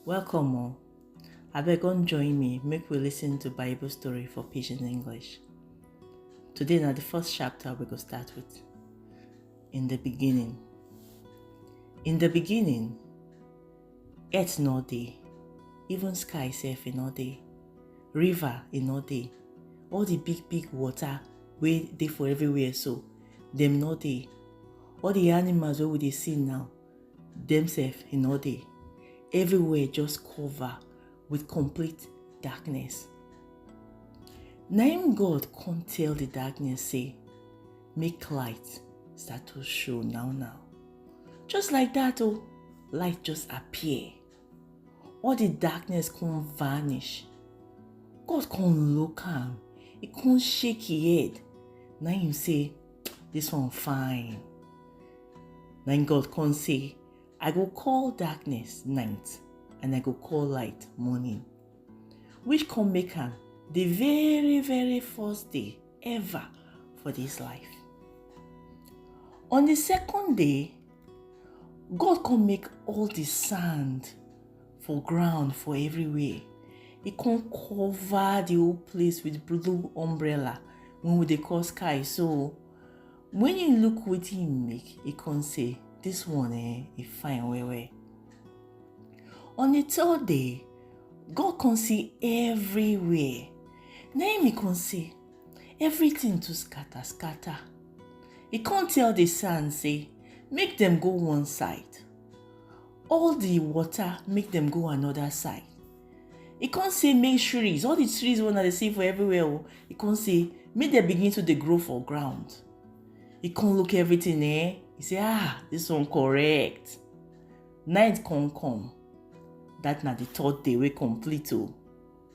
Welcome all. Abeg come join me make we listen to Bible story for Pidgin English. Today na the first chapter we go start with. In the beginning. In the beginning, earth no dey, even sky sef e no dey, river e no dey, all the big big water wey dey for everywhere so, dem no dey. All the animals wey we dey see now, dem sef e no dey everywhere just cover with complete darkness na im god come tell the darkness say make light start to show now now just like that oh light just appear all the darkness come vanish god come look am he come shake him head na him say this one fine na him god come say i go call darkness night and i go call light morning which come make am the very very first day ever for this life on the second day God come make all the sand for ground for everywhere. He come cover the whole place with blue umbrella when we dey call sky. So when you look what he make, he come say, this one eh, he fine well well. On the third day, God come see everywhere. Then he come say, everything too scatter scatter e come tell the sand say make dem go one side all the water make dem go another side e come say make trees all the trees wey una dey see for everywhere o e come say make dem begin to dey grow for ground e come look everything eh e say ah this one correct night come come that na the third day wey complete o.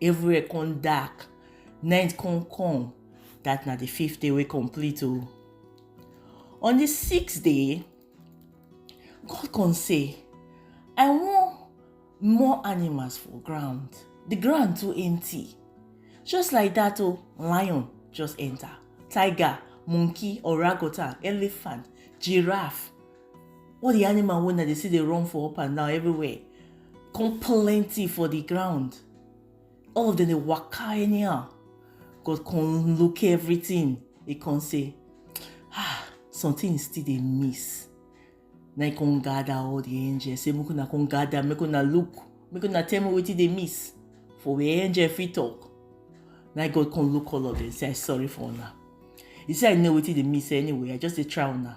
everywhere come dark night come come that na the fifth day wey complete o on the sixth day god come say i wan more animals for ground the ground too empty just like that o lion just enter tiger monkey orangutan elephant giraffe all the animal wey na dey see dey run for up and down everywhere come plenty for the ground all of them dey waka anyhow god come look everything he come say ah something still dey miss na he come gather all the angels say make una come gather make una look make una tell me wetin dey miss for where angel fit talk na god come look all of them say i sorry for una he say i know wetin dey miss anyway i just dey try una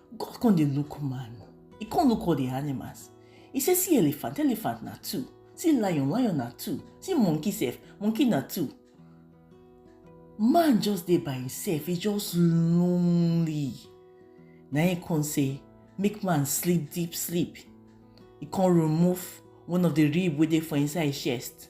God come dey look man. He come look all the animals. He say, see elephant, elephant na two. See lion, lion na two. See monkey self, monkey na two. Man just dey by himself. He just lonely. Na him come say, make man sleep deep sleep. He come remove one of the rib wey dey for inside chest.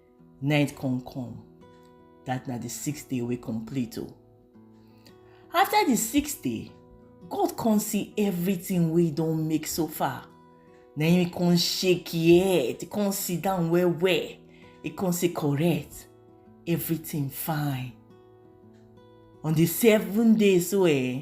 Night come come. That na the sixth day wey complete o. Oh. After the sixth day, God come see everything wey don make so far. Na him come shake him head, come sit down well well. He come say correct, everything fine. On the seventh day so eh,